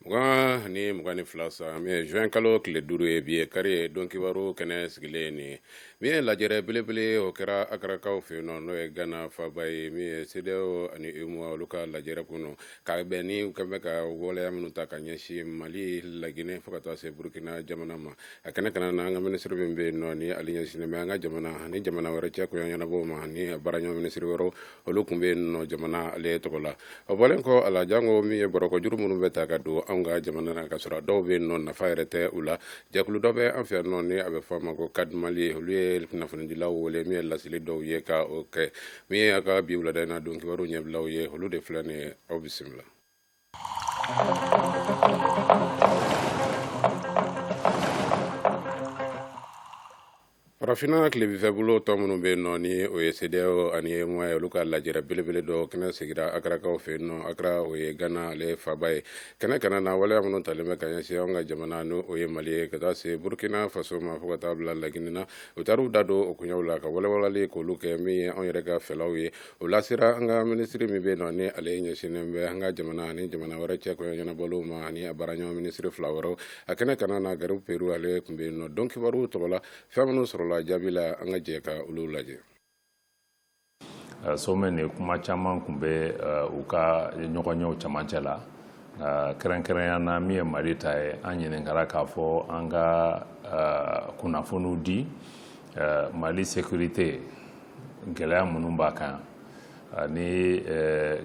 2 ni mugan ni fila san juin kalo tile duuru ye bi ye kari ye don kibaru kɛnɛ sigilen nin ye min ye lajɛrɛ belebele o kɛra Akarakaw fɛ yen nɔ n'o ye gana faba ye min ye CEDEAO ani UEMOA olu ka lajɛrɛ kɔnɔ ka bɛn ni u kun bɛ ka waleya minnu ta ka ɲɛsin mali laginɛ fo ka taa se burukina jamana ma a kɛnɛ kana na an ka minisiri min bɛ yen nɔ ni ale ɲɛsinnen bɛ an ka jamana ni jamana wɛrɛ cɛ koɲɛ ɲɛnabɔ ma ni a baaraɲɔgɔn minisiri wɛrɛw olu tun bɛ yen nɔ jamana ale tɔgɔ la o bɔlen kɔ a la janko min ye bɔrɔkɔjuru minnu bɛ ta ka don anw ka jamana na ka sɔrɔ dɔw bɛ yen nɔ nafa yɛrɛ tɛ u la jɛkulu dɔ bɛ an fɛ yan nɔ ni a bɛ fɔ a ma ko CAD Mali olu ye kunnafonidilaw wele min ye laseli dɔw ye ka o kɛ min ye a ka bi wulada in na don kibaru ɲɛbilaw ye olu de filɛ nin ye aw bisimila farafinna tilebifɛbolo tɔn minnu bɛ yen nɔ ni o ye CEDEAO ani UEMOA ye olu ka lajɛrɛ belebele dɔ kɛnɛ sigira Akarakaw fɛ yen nɔ Akara o ye Gana ale faba ye kɛnɛ kana na waleya minnu talen bɛ ka ɲɛsin anw ka jamana ni o ye Mali ye ka taa se Burkina Faso ma fo ka taa bila Laginɛ na u taar'u da don o koɲɛw la ka walawalali k'olu kɛ min ye anw yɛrɛ ka fɛlaw ye o lasera an ka minisiri min bɛ yen nɔ ni ale ɲɛsinnen bɛ an ka jamana ani jamana wɛrɛ cɛ koɲɛ ɲɛnabɔliw ma ani a baaraɲɔgɔn minisiri fila wɛrɛw a kɛnɛ kana na Garibu Peru ale tun bɛ yen nɔ don kibaru tɔgɔ la fɛn minnu sɔrɔla jaabi la an ka jɛ ka olu lajɛ sommet nin kuma caman tun bɛ u ka ɲɔgɔnyew camancɛ la kɛrɛnkɛrɛnya na min ye mali ta ye an ɲininkara k'a fɔ an ka kunnafoniw di Ɛɛ Mali sécurité gɛlɛya minnu b'a kan ani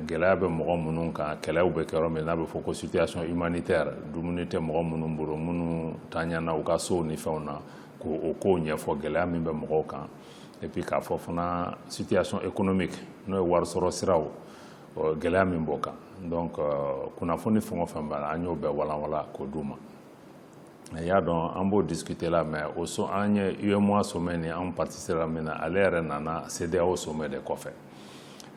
gɛlɛya bɛ mɔgɔ minnu kan, kɛlɛw bɛ kɛ yɔrɔ min n'a bɛ fɔ ko situation humanitaire dumuni tɛ mɔgɔ minnu bolo, minnu tanyana u ka sow ni fɛnw na, k'o kow ɲɛfɔ gɛlɛya min bɛ mɔgɔw kan et puis k'a fɔ fana situation économique n'o ye warisɔrɔ siraw gɛlɛya min b'o kan donc kunnafoni fɛn o fɛn b'a la, an y'o bɛɛ walanwalan k'o d'u ma. i y'a dɔn an b'o discuter la mais o so an ye UEMOA sommet nin anw participera min na ale yɛrɛ nana CEDEAO sommet de kɔfɛ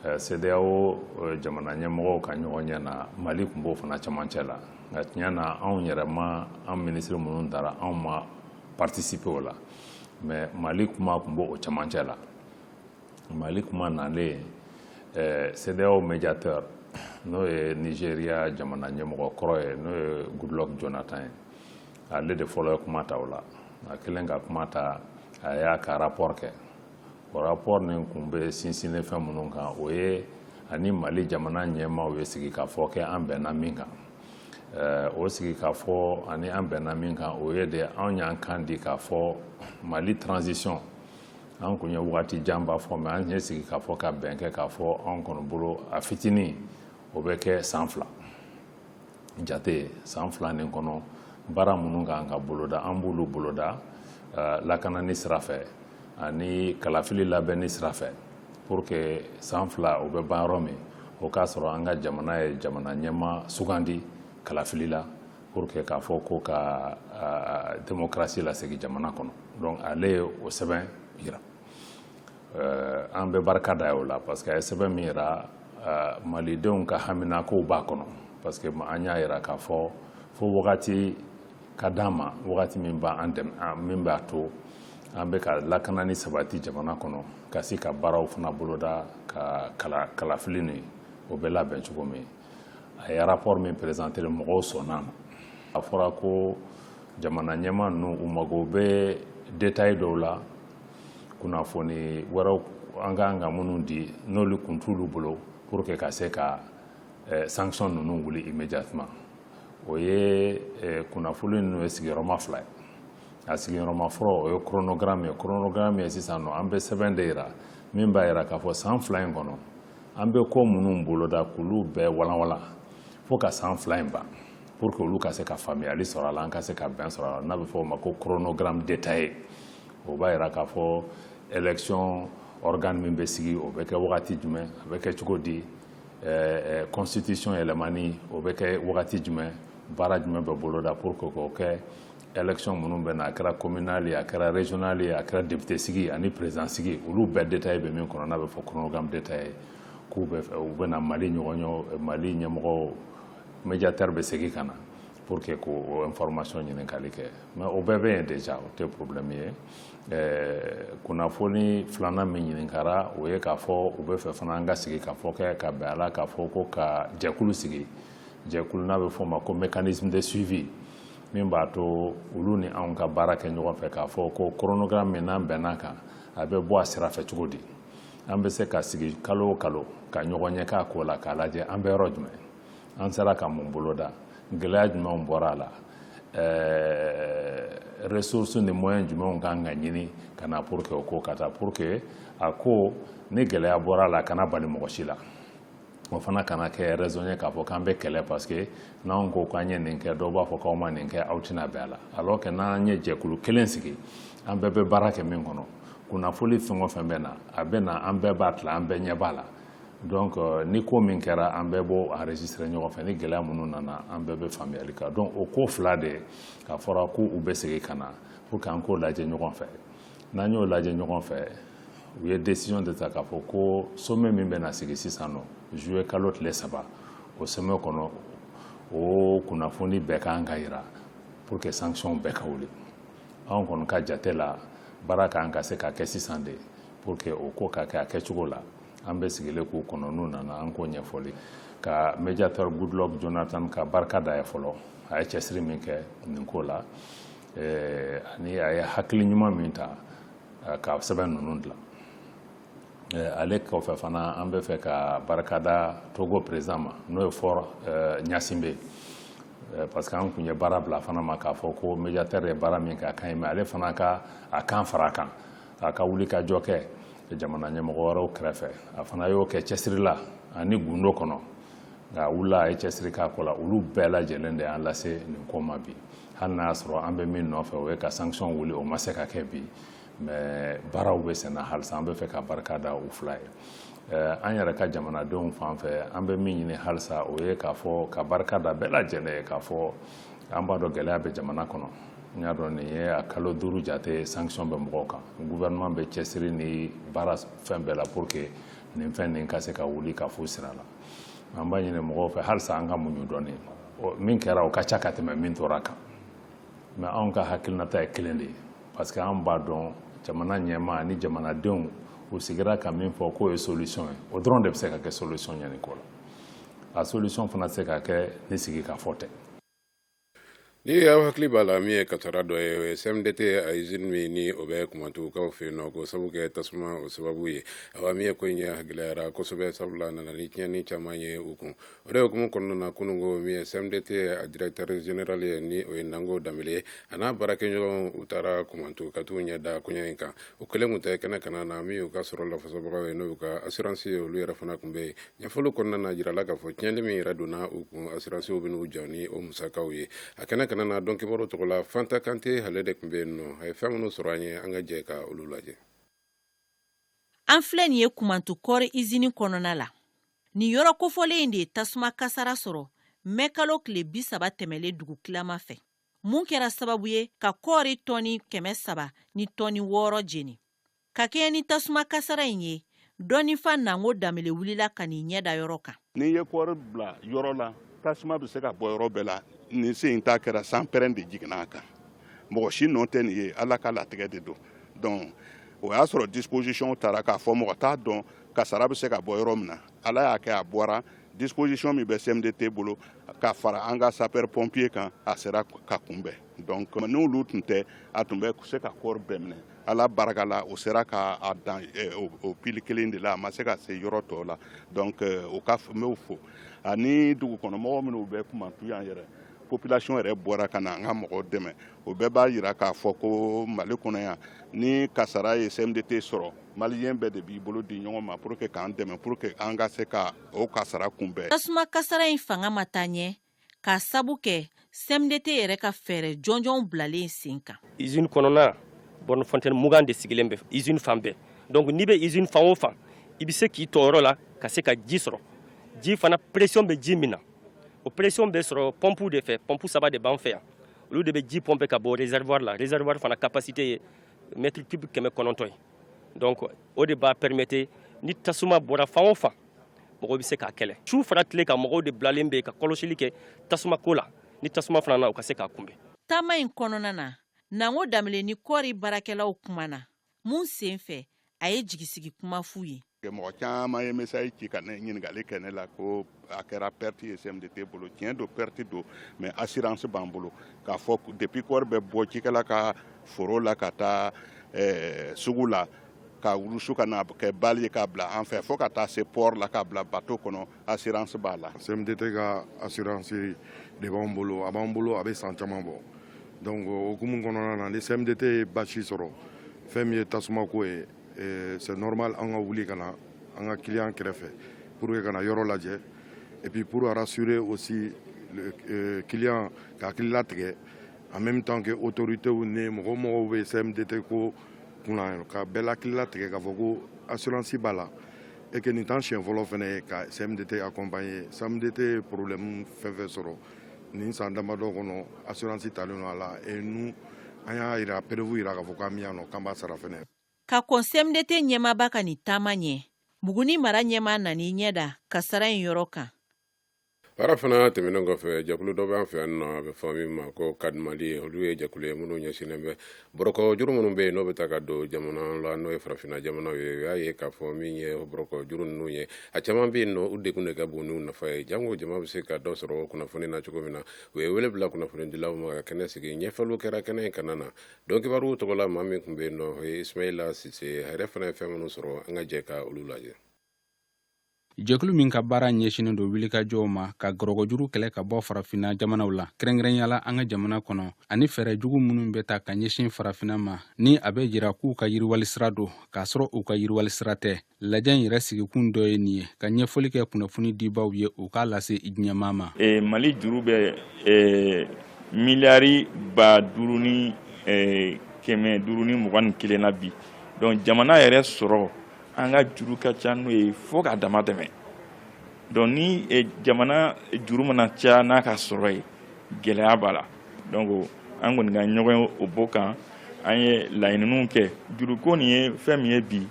euh, CEDEAO euh, jamana ɲɛmɔgɔw ka ɲɔgɔnye na Mali tun b'o fana cɛmancɛ la nka tiɲɛ na anw yɛrɛ ma an minisiri minnu taara anw ma participer o la mais Mali kuma tun b'o cɛmancɛ la Mali kuma nalen eh, CEDEAO médiateur n'o ye Nigeria jamana ɲɛmɔgɔ kɔrɔ ye n'o ye Goodluck Jonathan ye ale de fɔlɔ ye kuma ta o la a kɛlen ka kuma ta a y'a ka rapport kɛ o rapport nin kun bɛ sinsinnen fɛn minnu kan o ye a ni Mali jamana ɲɛmaaw ye sigikafɔ kɛ an bɛnna min kan eh, o sigikafɔ ani an bɛnna min kan o ye de anw y'an kan di k'a fɔ Mali transition an kun ye wagati janba fɔ mais an ye sigi k'a fɔ ka bɛn kɛ k'a fɔ an kɔnɔ bolo a fitinin o bɛ kɛ san fila jate san fila nin kɔnɔ baara minnu kan ka boloda an b'olu boloda eh, lakanani sira fɛ ani kalafili labɛnni sira fɛ pour que san fila o bɛ ban yɔrɔ min o k'a sɔrɔ an ka jamana ye jamana ɲɛmaa sugandi kalafili la pour que k'a fɔ ko ka euh, démocratie lasegin jamana kɔnɔ donc ale ye o sɛbɛn yira euh, an bɛ barika d'a ye o la parce que a ye sɛbɛn min yira euh, malidenw ka haminakow b'a kɔnɔ parce que an y'a yira k'a fɔ fo wagati ka d'an ma wagati min b'an dɛmɛ min b'a to an bɛ ka lakanani sabati jamana kɔnɔ ka se ka baaraw fana boloda ka kala kalafili nin o bɛ labɛn cogo min a ye rapport min présenter mɔgɔw sɔnna a ma a fɔra ko jamana ɲɛmaa ninnu u mago bɛ détail dɔw la kunnafoni wɛrɛw an ka kan ka minnu di n'olu kun t'olu bolo pour que ka se ka eh, sanction ninnu wuli immédiatement o ye eh, kunnafoni ninnu ye sigiyɔrɔma fila ye a sigiyɔrɔma fɔlɔ o ye chronogramme ye chronogramme ye sisan nɔ an bɛ sɛbɛn de yira min b'a yira k'a fɔ san fila in kɔnɔ an bɛ ko minnu boloda k'olu bɛɛ walanwalan fo ka san fila in ban pour que olu ka se ka faamuyali sɔrɔ a la an ka se ka bɛn sɔrɔ a la n'a bɛ fɔ o ma ko chronogramme détaillé o b'a yira k'a fɔ élection organe min bɛ sigi o bɛ kɛ wagati jumɛn a bɛ kɛ cogo di eh, eh, constitution yɛlɛmani o bɛ kɛ wagati jumɛn baara jumɛn bɛ boloda pour que k'o kɛ élection minnu bɛ na a kɛra communal ye a kɛra régional ye a kɛra député sigi ani président sigi olu bɛɛ détail bɛ min kɔnɔ n'a bɛ fɔ chronogramme détaillé k'u bɛ u bɛ na Mali ɲɔgɔn ɲɔ Mali ɲɛmɔgɔ médiateur bɛ segin ka na pour que k'o information ɲininkali kɛ mais o bɛɛ bɛ yen déjà o tɛ problème ye ɛɛ kunnafoni filanan min ɲininkara o ye k'a fɔ u b'a fɛ fana an ka sigikafɔ kɛ ka bɛn a la k'a fɔ ko ka jɛkulu sigi jɛkulu n'a bɛ fɔ o ma ko mécanisme de suivi min b'a to olu ni anw ka baara kɛ ɲɔgɔn fɛ k'a fɔ ko chronogramme min n'an bɛnna a kan a bɛ bɔ a sira fɛ cogo di an bɛ se ka sigi kalo o kalo ka ɲɔgɔn ye k'a ko la k'a lajɛ an bɛ yɔrɔ jumɛn an sera ka mun boloda gɛlɛya jumɛnw bɔra a la ɛɛ ressources ni moyens jumɛnw kan ka ɲini ka na pour que o ko ka taa pour que a ko ni gɛlɛya bɔra a la a kana bali mɔgɔ si la o fana kana kɛ raison ye k'a fɔ k'an bɛ kɛlɛ parce que n'anw ko k'an ye nin kɛ dɔw b'a fɔ k'aw ma nin kɛ aw tɛna bɛn a la alors que n'an ye jɛkulu kelen sigi an bɛɛ bɛ baara kɛ min kɔnɔ kunnafoli fɛn o fɛn bɛ na a bɛ na an bɛɛ b'a tila an bɛɛ ɲɛ b'a la donc euh, ni ko min kɛra an bɛɛ b'o enregistrer ɲɔgɔn fɛ ni gɛlɛya minnu nana an bɛɛ bɛ faamuyali kan donc o ko fila de k'a fɔra ko u bɛ segin ka na pour que an k'o lajɛ ɲɔgɔn fɛ n'an y'o lajɛ ɲɔgɔn fɛ u ye décision de ta k'a fɔ ko sommet min bɛna sigi sisan nɔ juillet kalo tile saba o sommet kɔnɔ o kunnafoni bɛɛ kan ka yira pour que sanction bɛɛ ka wuli anw kɔni ka jate la baara kan ka se ka kɛ sisan de pour que o ko ka kɛ a kɛcogo la an bɛ sigilen k'u kɔnɔ n'u nana an k'o ɲɛfɔli ka médiateur Goodluck Jonathan ka barika da ye fɔlɔ a ye cɛsiri min kɛ nin ko la ɛɛ ani a ye hakili ɲuman min ta ka sɛbɛn ninnu dilan ɛɛ ale kɔfɛ fana an bɛ fɛ ka barika da Togo président ma n'o ye Faure Gnassingbé ye Eh, parce que an kun ye baara bila fana ma k'a fɔ ko médiateur ye baara min kɛ a ka ɲi mais ale fana ka a kan fara a kan a ka wulikajɔ kɛ jamana ɲɛmɔgɔ wɛrɛw kɛrɛfɛ a fana y'o kɛ cɛsiri la ani gundo kɔnɔ nka a wulila a ye cɛsiri k'a ko la olu bɛɛ lajɛlen de y'an lase nin ko ma bi hali n'a y'a sɔrɔ an bɛ min nɔfɛ o ye ka sanction wuli o ma se ka kɛ bi mais baaraw bɛ senna halisa an bɛ fɛ ka barika da u fila ye eh, an yɛrɛ ka jamanadenw fan fɛ an bɛ min ɲini halisa o ye k'a fɔ ka barika da bɛɛ lajɛlen ye k'a fɔ an b'a dɔn gɛlɛya bɛ jamana kɔnɔ n y'a dɔn nin ye a kalo duuru jate sanction bɛ mɔgɔw kan gouvernement bɛ cɛsiri ni baara fɛn bɛɛ la pour que nin fɛn nin ka se ka wuli ka fo sira la an b'a ɲini mɔgɔw fɛ halisa an ka muɲu dɔɔni min kɛra o ka ca ka tɛmɛ min tora kan mais anw ka hakilinata ye kelen de ye parce que an b'a dɔn jamana ɲɛmaa ni jamanadenw u sigira ka min fɔ k'o ye solution ye o dɔrɔn de bɛ se ka kɛ solution ye nin ko la a solution fana tɛ se ka kɛ ni sigikafɔ tɛ Ni y'aw hakili b'a la min ye kasara dɔ ye o ye CMDT a izini min ni o bɛ Kumantukaw fɛ yen nɔ ko sabu kɛ tasuma o sababu ye awa min ye ko in yɛrɛ gɛlɛyara kosɛbɛ sabula nana ni tiɲɛni caman ye u kun o de hukumu kɔnɔna na kununko min ye CMDT a directeur général ye ni o ye Nango Danbele ye a n'a baarakɛɲɔgɔnw taara Kumantu ka t'u ɲɛ da koɲɛ in kan u kelen kun tɛ kɛnɛ kanna na min u ka sɔrɔ lafasabagaw ye n'u ka asiransi ye olu yɛrɛ fana kun bɛ yen ɲɛfɔli kɔnɔna na jirala k'a fɔ tiɲɛli min yɛrɛ donna u kun asiransiw bɛn'u jɔ ni o musakaw ye a kɛnɛ kanna na donkibaru tɔgɔ la Fanta Kante hale de kun bɛ yen nɔ a ye fɛn minnu sɔrɔ an ye an ka jɛ ka olu lajɛ an filɛ nin ye Kumantu kɔɔri izini kɔnɔna la nin yɔrɔ kofɔlen in de ye tasuma kasara sɔrɔ mɛkalo tile bi saba tɛmɛlen dugu tilama fɛ mun kɛra sababu ye ka kɔɔri tɔni kɛmɛ saba ni tɔni wɔɔrɔ jeni ka kɛɲɛ ni tasuma kasara in ye dɔnnifa Nango Danbele wulila ka n'i ɲɛ da yɔrɔ kan. N'i ye kɔɔri bila yɔrɔ la, tasuma bɛ se ka bɔ yɔrɔ bɛɛ la. Nin sen in ta kɛra sanpɛrɛn de jiginna a kan. Mɔgɔ si nɔ tɛ nin ye, Ala ka latigɛ de don. Donc o y'a sɔrɔ disposition tara k'a fɔ mɔgɔ t'a dɔn kasara bɛ se ka bɔ yɔrɔ min na. Ala y'a kɛ a bɔra disposition min bɛ CMDT bolo ka fara an ka sapeur pompier kan, a sera ka kunbɛn. Donc n'olu tun tɛ a tun bɛ se ka kɔɔri bɛɛ minɛ Ala barika la o sera ka a dan o pili kelen de la a ma se ka se yɔrɔ tɔw la donc o ka n b'o fo ani dugukɔnɔmɔgɔw minnu bɛ Kumantu yan yɛrɛ population yɛrɛ bɔra ka na an ka mɔgɔw dɛmɛ o bɛɛ b'a jira k'a fɔ ko Mali kɔnɔ yan ni kasara ye CMDT sɔrɔ maliyɛn bɛɛ de b'i bolo di ɲɔgɔn ma pour que k'an dɛmɛ pour que an ka se ka o kasara kunbɛn. Tasuma kasara in fanga ma taa ɲɛ. k'a sabu kɛ CMDT yɛrɛ ka fɛɛrɛ jɔnjɔnw bilalen sen kan. Usine kɔnɔna borne fontaine mugan de sigilen bɛ usine fan bɛɛ donc n'i bɛ usine fan o fan i bɛ se k'i to yɔrɔ la ka se ka ji sɔrɔ ji fana pression bɛ ji min na o pression bɛ sɔrɔ pompe de fɛ pompe saba de b'an fɛ yan olu de bɛ ji pomper ka bɔ réservoir la réservoir fana capacité ye mètre cube kɛmɛ kɔnɔntɔn ye donc o de b'a permettre ni tasuma bɔra fan o fan mɔgɔ bɛ se k'a kɛlɛ su fara tile kan mɔgɔw de bilalen bɛ ka kɔlɔsili kɛ tasuma ko la ni tasuma fana na u ka se k'a kunbɛn taama in kɔnɔna na Nango Danbele ni kɔɔri baarakɛlaw kumana mun sen fɛ a ye jigisigi kuma f'u ye mɔgɔ caman ye message ci ka ne ɲininkali kɛ ne la ko a kɛra perte ye CMDT bolo tiɲɛ don perte don mais assurance b'an bolo k'a fɔ depuis kɔɔri bɛ bɔ cikɛla ka foro la ka taa eh, sugu la ka wurusu ka na kɛ bali ye k'a bila an fɛ fo ka taa se port la k'a bila bato kɔnɔ assurance b'a la CMDT ka assurance de b'an bolo a b'an bolo a bɛ san caman bɔ donc o hukumu kɔnɔna na ni CMDT ye basi sɔrɔ fɛn min ye tasuma ko ye eh, c'est normal an ka wuli ka na an ka client kɛrɛfɛ pour que ka na yɔrɔ lajɛ et puis pour rassurer aussi le euh, client ka hakili latigɛ en même temps que autorités ni mɔgɔ o mɔgɔ bɛ CMDT ko kunna ka bɛɛ hakili latigɛ k'a fɔ ko assurance b'a la et que nin t'an siɲɛ fɔlɔ fana ye ka CMDT accompagner CMDT ye problème fɛn fɛn sɔrɔ nin san damadɔ kɔnɔ assurance talen don a la et nous an y'a jira preuve jira k'a fɔ k'an bɛ yan nɔ k'an b'a sara fana ka kɔn CMDT ɲɛmaaba ka nin taama ɲɛ Buguni mara ɲɛmaa nana i ɲɛ da kasara in yɔrɔ kan Baara fana tɛmɛnen kɔfɛ jɛkulu dɔ b'an fɛ yan nɔ a bɛ fɔ min ma ko CAD Mali ye olu ye jɛkulu ye minnu ɲɛsinnen bɛ bɔrɔkɔ juru minnu bɛ yen n'o bɛ taa ka don jamana la n'o ye farafinna jamanaw ye u y'a ye k'a fɔ min ye bɔrɔkɔ juru ninnu ye a caman bɛ yen nɔ u degun de ka bon n'u nafa ye jango jama bɛ se ka dɔ sɔrɔ kunnafoni na cogo min na u ye wele bila kunnafonidilaw ma ka kɛnɛ sigi ɲɛfɔliw kɛra kɛnɛ in kan na Don Kibaru tɔgɔla maa min tun bɛ yen nɔ o ye Ismaila Sise a yɛrɛ fana ye fɛn minnu sɔrɔ an ka jɛ ka olu lajɛ jɛkulu min ka baara ɲɛsinen don wilikajɔw ma ka gɔrɔgɔjuru kɛlɛ ka bɔ farafinna jamanaw la kɛrɛnkɛrɛnyala an ka jamana kɔnɔ ani fɛɛrɛ jugu minnu bɛ ta ka ɲɛsin farafinna ma ni a bɛ jira k'u ka yiriwali sira don k'a sɔrɔ u ka yiriwali sira tɛ lajɛ in yɛrɛ sigikun dɔ ye nin ye ka ɲɛfɔli kɛ kunnafoni dibaw ye u k'a lase diɲɛmaa ma e, mali juru bɛ e, miliyari ba duuru ni e, kɛmɛ duuru ni mugan ni kelen na bi donc jamana yɛrɛ sɔrɔ an ka juru ka ca n'o ye fo k'a dama tɛmɛ donc ni eh, jamana juru mana caya n'a ka sɔrɔ ye gɛlɛya b'a la donc an kɔni ka ɲɔgɔnye o b'o kan an ye laɲininiw kɛ juruko nin ye fɛn min ye bi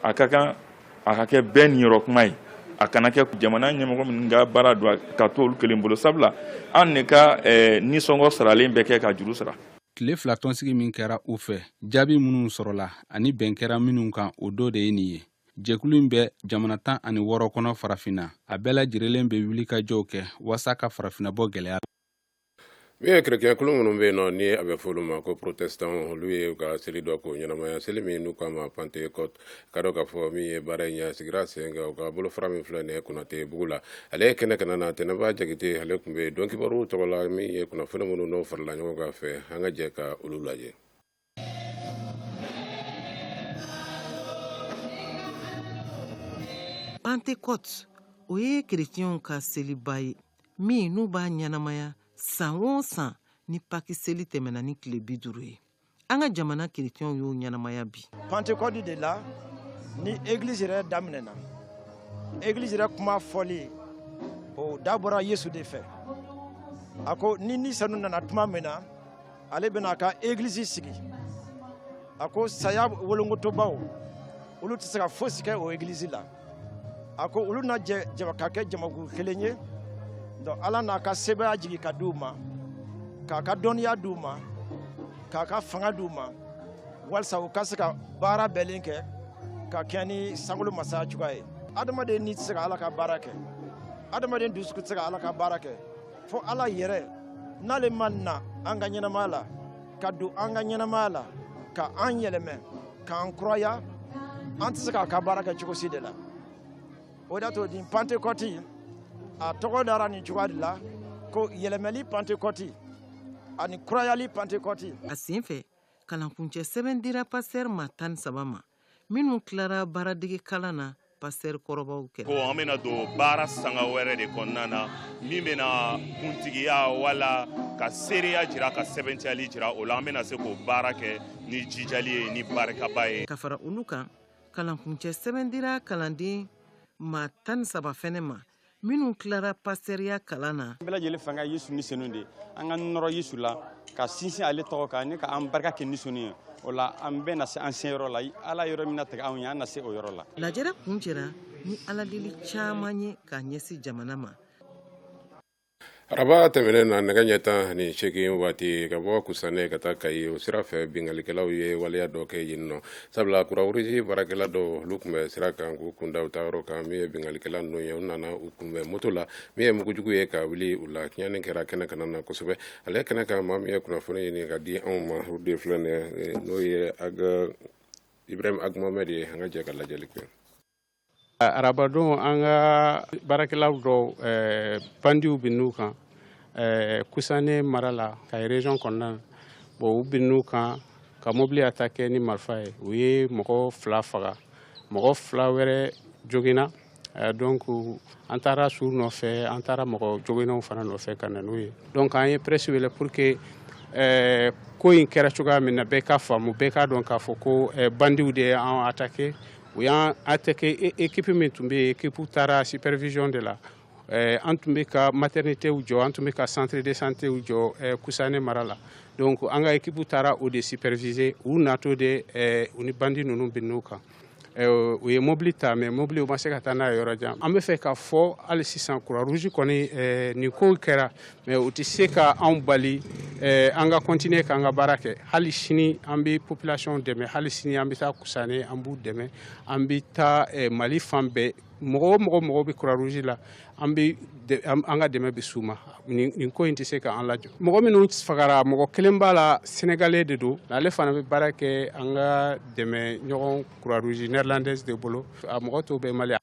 a ka kan a ka kɛ bɛɛ niyɔrɔ kuma ye a kana kɛ jamana ɲɛmɔgɔ minnu ka baara don ka to olu kelen bolo sabula an ne ka eh, nisɔngɔ saralen bɛ kɛ ka juru sara tile fila tɔnsigi min kɛra u fɛ jaabi minnu sɔrɔla ani bɛn kɛra minnu kan o dɔ de ye nin ye jɛkulu in bɛ jamana tan ani wɔɔrɔ kɔnɔ farafinna a bɛɛ lajɛrɛlen bɛ wulikajɔw kɛ waasa ka farafinna bɔ gɛlɛya la min ye kerecɛn kulu minnu bɛ yen nɔ ni a bɛ fɔ olu ma ko protestant olu ye u ka seli dɔ k'o ɲɛnamaya seli min n'u k'a ma pantekɔte ka dɔ k'a fɔ min ye baara in yɛrɛ sigira sen kan u ka bolofara min filɛ nin ye konatebugu la ale ye kɛnɛ kan nana tɛnɛba jakite ale tun bɛ don kibaruw tɔgɔ la min ye kunnafoni minnu n'o farala ɲɔgɔn kan fɛ an ka jɛ ka olu lajɛ pantekote o ye kerecɛnw ka seliba ye min n'u b'a ɲɛnamaya san o san ni paki seli tɛmɛna ni tile bi duuru ye an ka jamana kerecɛnw y'o ɲɛnamaya bi pantekɔti de la ni egilizi yɛrɛ daminɛna egilizi yɛrɛ kuma fɔli o da bɔra yesu de fɛ a ko ni ni senu nana tuma min na ale bɛna a ka egilizi sigi a ko saya wolongotobaw olu tɛ se ka fosi kɛ o egilizi la a ko olu na jɛ ka kɛ jamakulu kelen ye donc ala n'a ka sebaaya jigin ka di u ma k'a ka dɔnniya di u ma k'a ka fanga di u ma walisa u ka se ka baara bɛɛlen kɛ ka kɛɲɛ ni sankolo masaya cogoya ye adamaden ni tɛ se ka ala ka baara kɛ adamaden dusukun tɛ se ka ala ka baara kɛ fo ala yɛrɛ n'ale ma na an ka ɲɛnamaya la ka don an ka ɲɛnamaya la ka an yɛlɛmɛ k'an kuraya an tɛ se k'a ka baara kɛ cogo si de la o de y'a to nin pantekɔti a tɔgɔ dara nin cogoya de la ko yɛlɛmɛli pantekɔti ani kurayali pantekɔti a sen fɛ kalankuncɛ sɛbɛn dira pasitɛri maa tan ni saba ma minnu tilara baaradege kalan na pastɛri kɔrɔbaw kɛ ko an bɛna don baara sanga wɛrɛ de kɔnɔna na min bɛna kuntigiya wala ka seereya jira ka sɛbɛntiyali jira o la an bɛna se k'o baara kɛ ni jijali ye ni barikaba ye ka fara olu kan kalankuncɛ sɛbɛn dira kalanden maa tan ni saba fɛnɛ ma minnu tilara pastɛriya kalan na bɛɛ lajɛlen fanga ye yesu ni senu de an ka nɔrɔ yesu la ka sinsin ale tɔgɔ kan ni ka an barika kɛ ni senu ye o la an bɛɛ na se an seyɔrɔ la ala yɔrɔ min natigɛ anw ye an na se o yɔrɔ la lajɛrɛ kuncɛra ni aladeli caman ye ka ɲɛsin jamana ma araba tɛmɛnen na nɛgɛ ɲɛ tan ani seegin waati ka bɔ kusane ka taa kayi o sira fɛ binkalikɛlaw ye waleya dɔ kɛ yen nɔ sabula croix rouge baarakɛla dɔ olu tun bɛ sira kan k'u kunda u taayɔrɔ kan min ye binkalikɛla ninnu ye u nana u kunbɛn moto la min ye mugujugu ye ka wuli u la tiɲɛni kɛra kɛnɛ kanna na kosɛbɛ ale kɛnɛ kan maa min ye kunnafoni ɲini ka di anw ma o de filɛ n'o ye ibrahim ag mohamed ye an ka jɛ ka lajɛli kɛ arabadon an ka baarakɛlaw dɔw eh, bandiw binn'u kan eh, kusane mara la kayi region kɔnɔna na bon u binn'u kan ka mobili attaquer ni marifa ye u ye mɔgɔ fila faga mɔgɔ fila wɛrɛ joginna eh, donc an taara su nɔfɛ an taara mɔgɔ joginnenw fana nɔfɛ ka na n'u ye donc an ye presse wele pour que ko in kɛra cogoya min na bɛɛ ka faamu bɛɛ k'a dɔn k'a fɔ ko bandiw de ye an attaquer U y'an attaquer équipe min tun bɛ yen équipe taara supervision de la an tun bɛ ka maternité jɔ an tun bɛ ka centre de santé jɔ kusane mara la donc an ka équipe taara o de superviser u natɔ de u ni bandi ninnu binn'u kan u ye mobili ta mais mobili u ma se ka taa n'a ye yɔrɔ jan an b'a fɛ k'a fɔ hali sisan croix rouge kɔni nin kow kɛra mais u tɛ se ka anw bali eh, an ka continuer k'an ka baara kɛ hali sini an bɛ population dɛmɛ hali sini an bɛ taa kusane an b'u dɛmɛ an bɛ taa eh, mali fan bɛɛ mɔgɔ o mɔgɔ mago bɛ croix rouge la an bɛ an ka dɛmɛ bɛ s'u ma nin ko in tɛ se k'an lajɔ mɔgɔ minnu fagara mɔgɔ kelen b'a la senegalais de don ale fana bɛ baara kɛ an ka dɛmɛɲɔgɔn croix rouge néerlandaise de bolo a mɔgɔ tɔw bɛ mali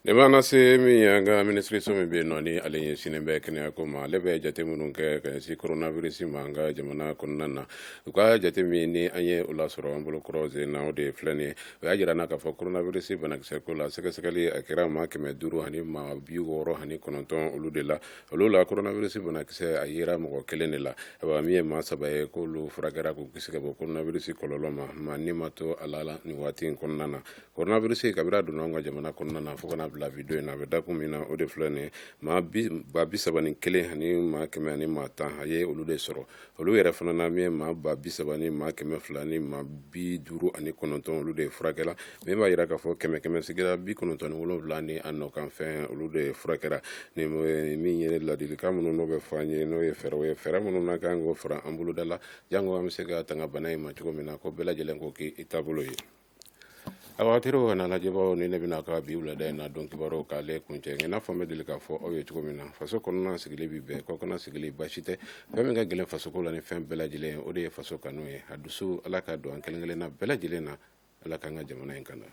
Ne b'an se min ye an ka minisiriso min bɛ yen nɔ ni ale ɲɛsinnen bɛ kɛnɛya ko ma ale bɛ jate minnu kɛ ka ɲɛsin koronavirus ma an ka jamana kɔnɔna na u ka jate min ni an ye o lasɔrɔ an bolo kɔrɔ sen na o de filɛ nin ye o y'a jira an na k'a fɔ koronavirus banakisɛ ko la sɛgɛsɛgɛli a kɛra maa kɛmɛ duuru ani maa bi wɔɔrɔ ani kɔnɔntɔn olu de la olu la koronavirus banakisɛ a yera mɔgɔ kelen de la ayiwa min ye maa saba ye k'olu furakɛra k'u kisi ka bɔ koronavirus kɔlɔlɔ ma maa ni ma to a la nin waati in kɔnɔna na kɔrɔnabirisi kabiri a donna anw ka jamana kɔnɔna na fo ka n'a bila bi don in na a bɛ dakun min na o de filɛ nin ye maa ba bi saba ni kelen ani maa kɛmɛ ani maa tan a ye olu de sɔrɔ olu yɛrɛ fana na min ye maa ba bi saba ni maa kɛmɛ fila ni maa bi duuru ani kɔnɔntɔn olu de furakɛla min b'a yira k'a fɔ kɛmɛ kɛmɛ sigi la bi kɔnɔntɔn ni wolonwula ni a nɔkanfɛn olu de furakɛra ni min ye ladilikan minnu n'o bɛ fɔ an ye n'o ye fɛɛrɛw ye fɛɛrɛ minnu n'a kan k'o fara an boloda la jango an bɛ se ka tanga bana in ma cogo min na ko bɛɛ lajɛlen k'o k'i taabolo ye aw hakili ka lajɛbaaw ni ne bɛna ka bi wulada in na don kibaruw k'ale kuncɛ i n'a fɔ n bɛ deli k'a fɔ aw ye cogo min na faso kɔnɔna sigili bɛ bɛn kɔkanna sigili baasi tɛ fɛn min ka gɛlɛn fasoko la ni fɛn bɛɛ lajɛlen ye o de ye faso kanu ye a dusu ala ka don an kelen kelen na bɛɛ lajɛlen na ala k'an ka jamana in kan